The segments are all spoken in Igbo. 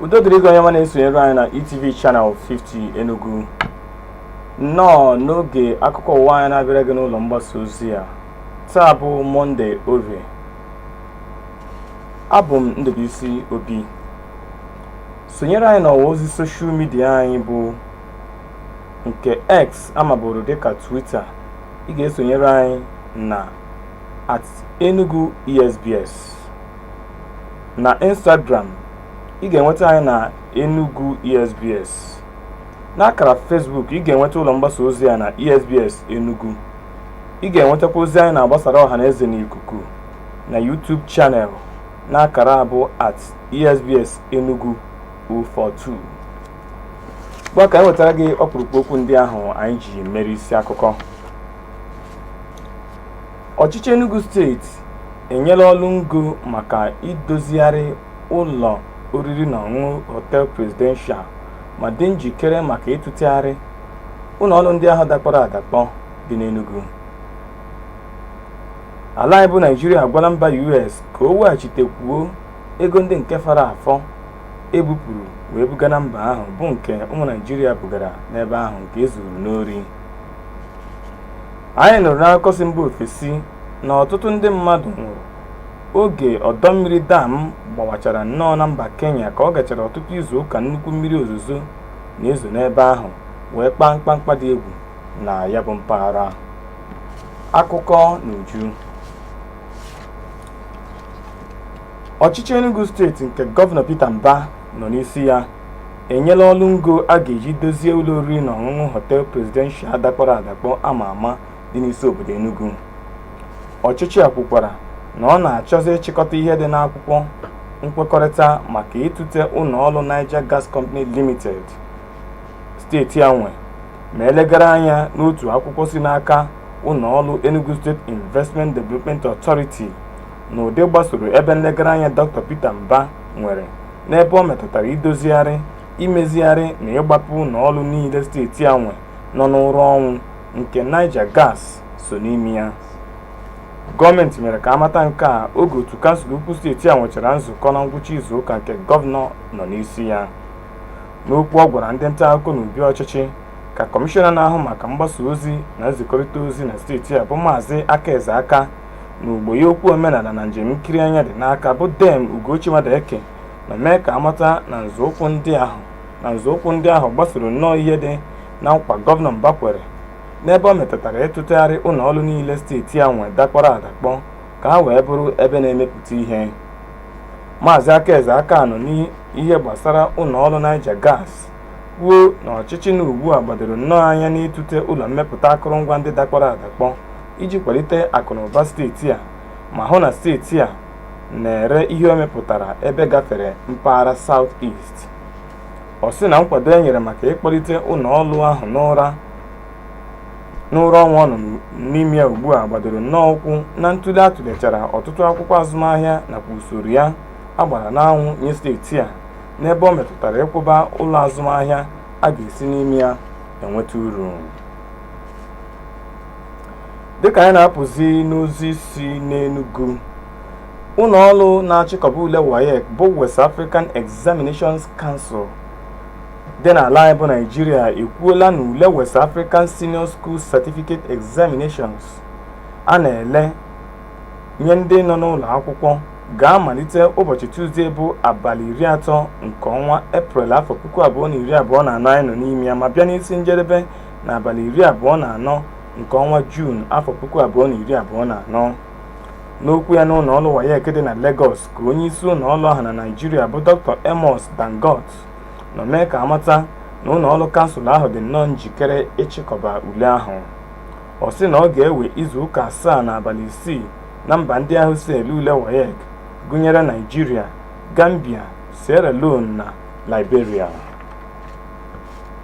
udo dịrị gị onye ọma na-esonyere anyị na ETV Channel 50 Enugu nnọọ n'oge akụkọ ụwa anyị na-abịara gị n'ụlọ mgbasa ozi a taa bụ mọnde orie abụ m Ndubuisi Obi sonyere anyị n'ọwa ozi soshal midia anyị bụ nke X a maburu dịka Twitter ị ga-esonyere anyị na at Enugu ESBS na Instagram ị ga-enweta anyị na Enugu ESBS n'akara Facebook ị ga-enweta ụlọ mgbasa ozi a na ESBS Enugu ị ga-enwetakwa ozi anyị na-agbasara ọha na eze n'ikuku na YouTube channel n'akara a bụ at ESBS Enugu 042 ngwa ka anyị wetara gị ọkpụrụkpụ okwu ndị ahụ anyị ji mere isi akụkọ Ọchịchị Enugu steeti enyela ọrụ ngo maka idozigharị ụlọ oriri na ọṅụṅụ Hotel Presidential ma dị njikere maka ịtụtegharị ụlọ ọrụ ndị ahụ dakpọrọ adakpọ dị n'Enugu. Ala anyị bụ Naịjirịa agwala mba US ka o weghachitekwuo ego ndị nke fọrọ afọ e bupụrụ wee buga na mba ahụ bụ nke ụmụ Naịjirịa bugara n'ebe ahụ nke e zuru n'ori. anyị nụrụ n'akụkọ si mba ofesi na ọtụtụ ndị mmadụ nwụrụ oge ọdọ mmiri dam gbawachara nnọọ na mba kenya ka ọ gachara ọtụtụ izu ụka nnukwu mmiri ozuzo na-ezo n'ebe ahụ wee kpaa mkpamkpa dị egwu na ya bụ mpaghara akụkọ n'uju ọchịchị enugu steeti nke gọvanọ peter mba nọ n'isi ya enyela ọrụ ngo a ga-eji dozie ụlọ oriri na ọṅụṅụ Hotel Presidential dakpọrọ adakpọ ama ama dị n'isi obodo Enugu ọchịchị a kwukwara na ọ na-achọzi ịchịkọta ihe dị n'akwụkwọ nkwekọrịta maka ịtụte ụlọ ọrụ Niger Gas Company Limited steeti a nwe ma e legara anya n'otu akwụkwọ si n'aka ụlọ ọrụ Enugu State Investment Development Authority n'ụdị gbasoro ebe nlegara anya Dr. Peter Mba nwere n'ebe ọ metụtara idozigharị imezigharị na ịgbapụ ụlọ ọrụ niile steeti a nwe nọ n'ụra ọnwụ nke Niger Gas so n'ime ya gọọmenti mere ka a mata nke a oge otu kansụl ukwu steeti a nwechara nzukọ na ngwụcha izu ụka nke gọvanọ nọ n'isi ya n'okwu ọ gwara ndị nta akụkọ n'obi ọchịchị ka kọmishọna na-ahụ maka mgbasa ozi na nzikọrịta ozi na steeti a bụ maazị Aka Eze Aka na ogbo ya okwu omenala na njem nkiri anya dị n'aka bụ Dame Ugochi Madueke nọ mee ka amata na nzọụkwụ ndị ahụ na nzọụkwụ ndị ahụ gbasoro nnọọ ihe dị na nkwa gọvanọ Mbah kwere n'ebe ọ metụtara ịtụtegharị ụlọ ọrụ niile steeti a nwe dakpọrọ adakpọ ka ha wee bụrụ ebe na-emepụta ihe Maazị Aka Eze Aka nọ n'ihe gbasara ụlọ ọrụ Niger Gas kwuo na ọchịchị nọ ugbu a gbadoro nnọọ anya n'ịtụte ụlọ mmepụta akụrụngwa ndị dakpọrọ adakpọ iji kwalite akụnụba steeti a ma hụ na steeti a na-ere ihe o mepụtara ebe gafere mpaghara South East. Ọ sị na nkwado e nyere maka ịkpọlite ụlọ ọrụ ahụ n'ụra ọnwụ ọ nọ n'ime ya ugbu a gbadoro nnọọ ụkwụ na ntụle a tụlechara ọtụtụ akwụkwọ azụmahịa nakwa usoro ya a gbara n'anwụ nye steeti a n'ebe ọ metụtara ịkwụba ụlọ azụmahịa a ga-esi n'ime ya enweta uru dịka anyị na-apụzi n'ozi si n'Enugu ụlọ ọrụ na-achịkọba ule WAEC bụ West African Examinations Council dị n'ala anyị bụ Naịjirịa ekwuola na ule West African Senior School Certificate Examinations a na-ele nye ndị nọ n'ụlọ akwụkwọ ga-amalite ụbọchị Tuzdee bụ abalị iri atọ nke ọnwa Eprel afọ puku abụọ na iri abụọ na anọ anyị nọ n'ime ya ma bịa n'isi njedebe n'abalị iri abụọ na anọ nke ọnwa Juun afọ puku abụọ na iri abụọ na anọ n'okwu ya n'ụlọ ọrụ WAEC dị na Lagos ka onye isi ụlọ ọrụ ahụ na Naịjirịa bụ Dr. Amos Dangut nọ mee ka amata na ụlọ ọrụ kansụl ahụ dị nnọọ njikere ịchịkọba ule ahụ ọ sị na ọ ga-ewe izu ụka asaa na abalị isii na mba ndị ahụ so ele ule WAEC gụnyere Naịjirịa Gambia Sierra Leone na Liberia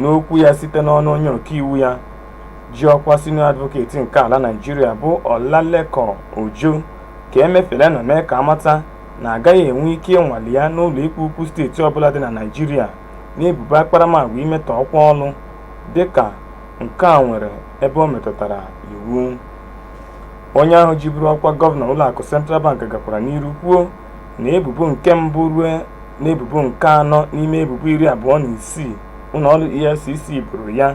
N'okwu ya site n'ọnụ onye ọkaiwu ya ji ọkwa senior advocate nke ala Naịjirịa bụ Olalekan Ojo ka Emefiele nọ mee ka amata na agaghị enwe ike ịnwale ya n'ụlọikpe ukwu steeti ọbụla dị na Naịjirịa n'ebubo akparamagwa imetọ ọkwa ọlụ dịka nke a nwere ebe o metụtara iwu. Onye ahụ jiburu ọkwa gọvanọ ụlọakụ Central Bank gakwara n'iru kwuo na ebubo nke mbụ ruo n'ebubo nke anọ n'ime ebubo iri abụọ na isii ụlọ ọrụ EFCC boro ya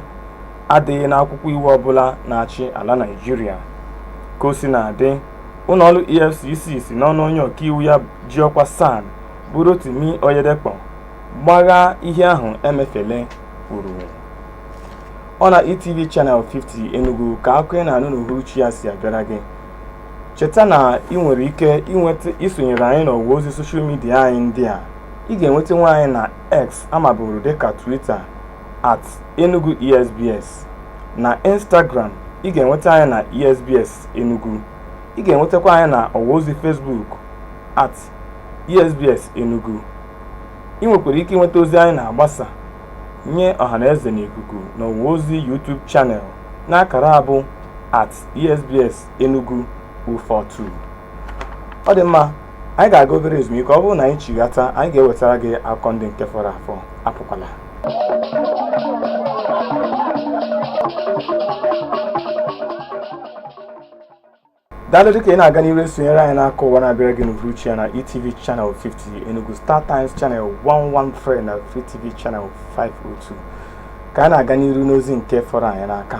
adịghị n'akwụkwọ iwu ọbụla na-achị ala Naịjirịa. Ka o sina dị, ụlọ ọrụ EFCC si n'ọnụ onye ọkaiwu ya ji ọkwa SAN bụ Rotimi Oyedepo gbaghaa ihe ahụ Emefiele kwuru. Ọ na ETV Channel 50 Enugu ka akụkọ ị na-anụ n'uhuruchi a si abịara gị. cheta na ị nwere ike isonyere anyị n'ọwa ozi soshal midia anyị ndị a ị ga-enwetanwu anyị na x a maburu dịka twitter at enugu esbs na instagram ị ga-enweta anyị na esbs enugu ị ga-enwetakwa anyị na ọwa ozi facebook at esbs enugu ị nwekwara ike inweta ozi anyị na-agbasa nye ọhaneze n'ikuku n'ọwa ozi youtube channel n'akara a bụ at esbs Enugu 042 ọ dị mma anyị ga-aga obere ezumike ọ bụrụ na anyị chighata anyị ga-ewetara gị akụkọ ndị nke fọrọ afọ apụkwala daalụ dịka ị na-aga n'iru esonyere anyị n'akụkọ ụwa na-abịara gị n'uhuruchi a na etv channel 50 enugu star times channel 113 na free tv channel 502 ka anyị na-aga n'iru n'ozi nke fọrọ anyị n'aka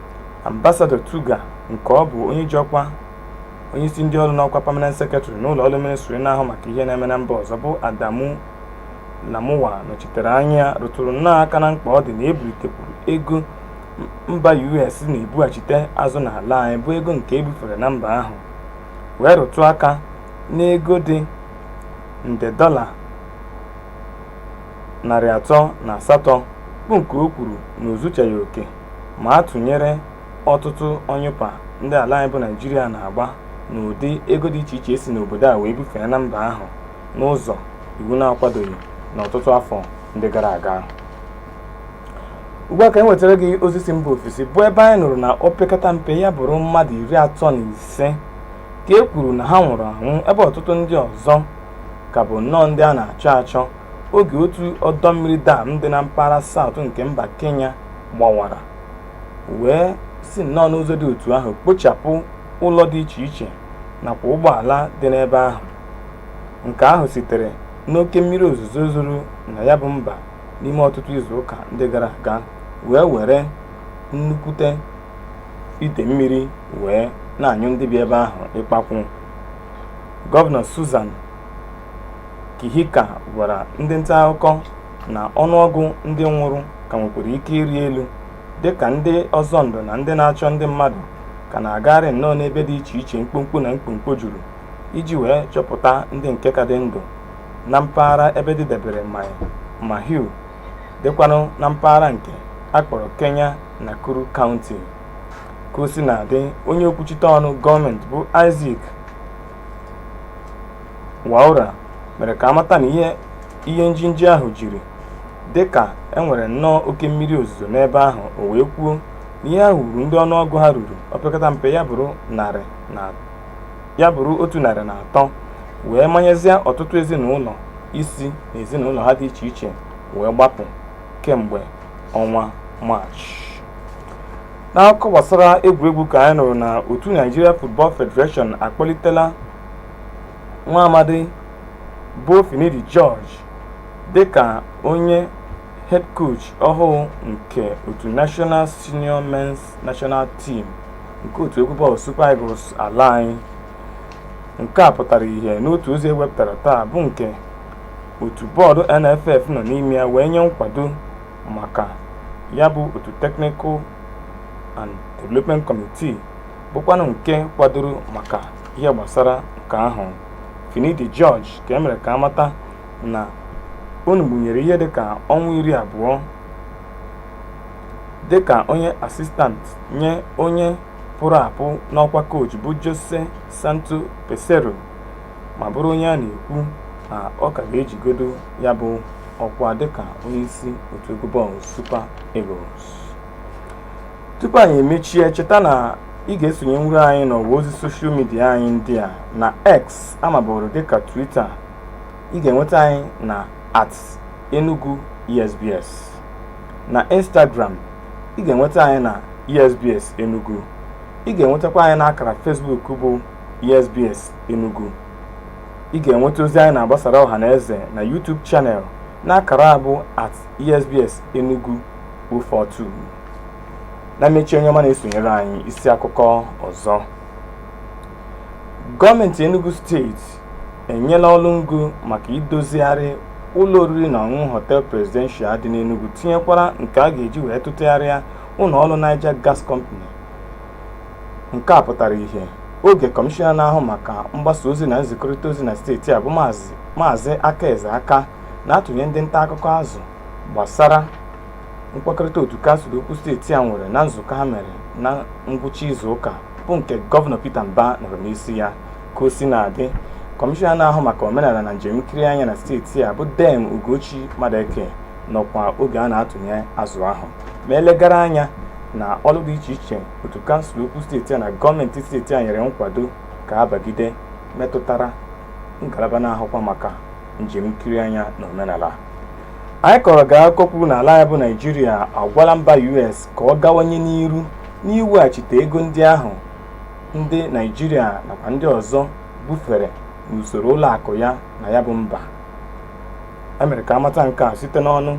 Ambasadọ Tuggar nke ọ bụ onye ji ọkwa onye isi ndị ọrụ n'ọkwa permanent secretary n'ụlọ ọrụ ministri na-ahụ maka ihe na-eme na mba ọzọ bụ Adamu Lamuwa nọchitere anya rụtụrụ nnọọ aka na mkpa ọ dị na e bulitekwuru ego mba US na-ebughachite azụ n'ala anyị bụ ego nke e bufere na mba ahụ wee rụtụ aka n'ego dị nde dọla narị atọ na asatọ bụ nke o kwuru na o zuchaghị oke ma a tụnyere ọtụtụ ọnyụpa ndị ala anyị bụ Naịjirịa na-agba n'ụdị ego dị iche iche e si n'obodo a wee bufee na mba ahụ n'ụzọ iwu na-akwadoghị n'ọtụtụ afọ ndị gara aga ugbu a ka anyị wetara gị ozi si mba ofesi bụ ebe anyị nụrụ na opekata mpe ya bụrụ mmadụ iri atọ na ise ka e kwuru na ha nwụrụ anwụ ebe ọtụtụ ndị ọzọ ka bụ nnọọ ndị a na-achọ achọ oge otu ọdọ mmiri dam dị na mpaghara saụt nke mba kenya gbawara wee si nnọọ n'ụzọ dị otu ahụ kpochapụ ụlọ dị iche iche nakwa ụgbọala dị n'ebe ahụ nke ahụ sitere n'oke mmiri ozuzo zoro na ya bụ mba n'ime ọtụtụ izu ụka ndị gara aga wee were nnukwute ide mmiri wee na-anyụ ndị bi ebe ahụ ikpakwụ gọvanọ Susan Kihika gwara ndị nta akụkọ na ọnụọgụ ndị nwụrụ ka nwekwara ike ịrị elu dịka ndị ọzọ ndụ na ndị na-achọ ndị mmadụ ka na-agagharị nnọọ n'ebe dị iche iche mkpọmkpọ na mkpọmkpọ juru iji wee chọpụta ndị nke ka dị ndụ na mpaghara ebe dịdebere Mahiu dịkwanụ na mpaghara nke a kpọrọ Kenya Nakuru kaụnti ka o si na-adị onye okwuchite ọnụ gọọmenti bụ Isaac Mwaura mere ka a mata na ihe ihe njinji ahụ jiri dị ka e nwere nnọọ oke mmiri ozuzo n'ebe ahụ o wee kwuo na ihe ahụ gburu ndị ọnụọgụ ha ruru opekata mpe ya bụrụ otu narị na atọ wee manyezie ọtụtụ ezinụlọ isi n'ezinụlọ ha dị iche iche wee gbapụ kemgbe ọnwa maachị n'akụkọ gbasara egwuregwu ka anyị nụrụ na otu Nigeria Football Federation akpọlitela nwa amadi bụ Finidi George dịka onye head coach ọhụụ nke otu National Senior Men's National Team nke otu egwu bọọlụ Super Eagles ala anyị. Nke a pụtara ihe n'otu ozi e wepụtara taa bụ nke otu bọọdụ NFF nọ n'ime ya wee nye nkwado maka ya bụ otu Technical and Development Committee bụkwanụ nke kwadoro maka ihe gbasara nke ahụ Finidi George ka e mere ka a mata na ọ nọgbunyere ihe dịka ọnwa iri abụọ dịka onye assistant nye onye pụrụ apụ n'ọkwa koochi bụ Jose Santo Peseiro ma bụrụ onye a na-ekwu na ọ ka ga-ejigodo ya bụ ọkwa dịka onyeisi otu egwu bọọlụ Super Eagles. tupu anyị emechie cheta na ị ga-esonyenwuru anyị n'ọwa ozi soshal midia anyị ndị a na x a maburu dịka twita ị ga-enweta anyị na at enugu esbs na instagram ị ga-enweta anyị na esbs enugu ị ga-enwetakwa anyị n'akara Facebook bụ esbs enugu ị ga-enweta ozi anyị na-agbasara ọha na eze na YouTube channel n'akara a bụ at esbs enugu 042 na mmechi onye ọma na-esonyere anyị isi akụkọ ọzọ gọọmenti enugu steeti enyela ọrụ ngo maka idozigharị ụlọ oriri na ọṅụṅụ hotel presidential dị n'enugu tinyekwara nke a ga-eji wee tụtegharịa ụlọ ọrụ niger gas company nke a pụtara ihe oge kọmishọna na-ahụ maka mgbasa ozi na nzikọrịta ozi na steeti a bụ maazị aka eze aka na-atụnye ndị nta akụkọ azụ gbasara nkwekọrịta otu kansụl ukwu steeti a nwere na nzukọ ha mere na ngwụcha izu ụka bụ nke gọvanọ Peter Mbah nọrọ n'isi ya ka o si na-adị kọmishọna na-ahụ maka omenala na njem nkiri anya na steeti a bụ Dame Ugochi Madueke nọkwa oge a na-atụnye azụ ahụ ma e legara anya na ọrụ dị iche iche otu kansụl ukwu steeti a na gọọmenti steeti a nyere nkwado ka a bagide metụtara ngalaba na-ahụkwa maka njem nkiri anya na omenala anyị kọrọ gị akụkọ kwuru na ala anyị bụ naijiria agwala mba us ka ọ gawanye n'iru n'iweghachite ego ndị ahụ ndị naijiria nakwa ndị ọzọ bufere n'usoro ụlọ akụ ya na ya bụ mba e mere ka a mata nke a site n'ọnụ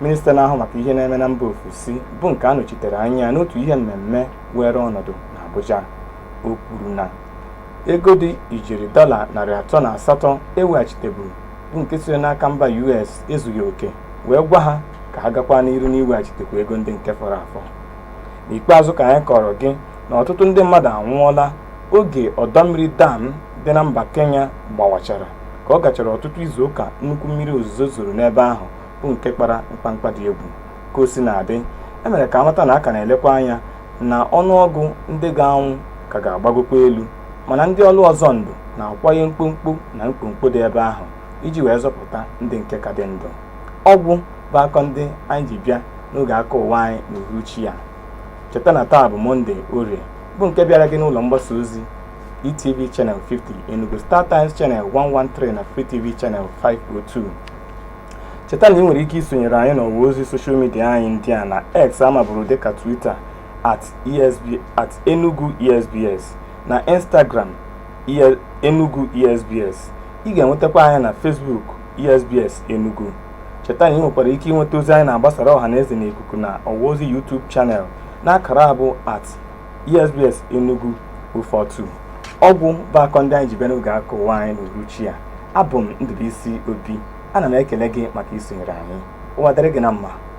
minista na-ahụ maka ihe na-eme na mba ofesi bụ nke a nọchitere anya n'otu ihe mmemme weere ọnọdụ n'abuja o kwuru na Ego dị ijeri dọla narị atọ na asatọ e weghachiteburu bụ nke siri n'aka mba US ezughị oke wee gwa ha ka ha gakwa n'iru n'iweghachitekwu ego ndị nke fọrọ afọ. N'ikpeazụ ka anyị kọọrọ gị na ọtụtụ ndị mmadụ anwụọla oge ọdọ mmiri dam dị na mba Kenya gbawachara ka ọ gachara ọtụtụ izuụka nnukwu mmiri ozuzo zoro n'ebe ahụ bụ nke kpara mkpamkpa dị egwu. Ka o sina dị, e mere ka a mata na a ka na-elekwa anya na ọnụọgụ ndị ga-anwụ ka ga-agbagokwa elu mana ndị ọrụ ọzọ ndụ na-akwanye mkpọmkpọ na mkpọmkpọ dị ebe ahụ iji wee zọpụta ndị nke ka dị ndụ. Ọ gwụ bụ akụkọ ndị anyị ji bịa n'oge akụkọ ụwa anyị n'uhuruchi a. Cheta na taa bụ Mọnde Orie bụ nke bịara gị n'ụlọ mgbasa ozi ETV Channel 50, Enugu Star Times Channel 113 na Free TV Channel 502. cheta na i nwere ike isonyere anyị n'ọwa ozi soshal midia anyị ndị a na x a maburu dịka twitter at enugu esbs na instagram enugu esbs ị ga-enwetakwa anyị na facebook esbs enugu cheta na i nwekwara ike inweta ozi anyị na-agbasara ọha na eze n'ikuku na ọwa ozi youtube chanel n'akara a bụ at ESBS Enugu 042 ọ gwụ bụ akụkọ ndị anyị ji bịa n'oge akụkọ ụwa anyị n'uruchi a abụ m Ndubuisi Obi ana m ekele gị maka isonyere anyị ụwa dịrị gị na mma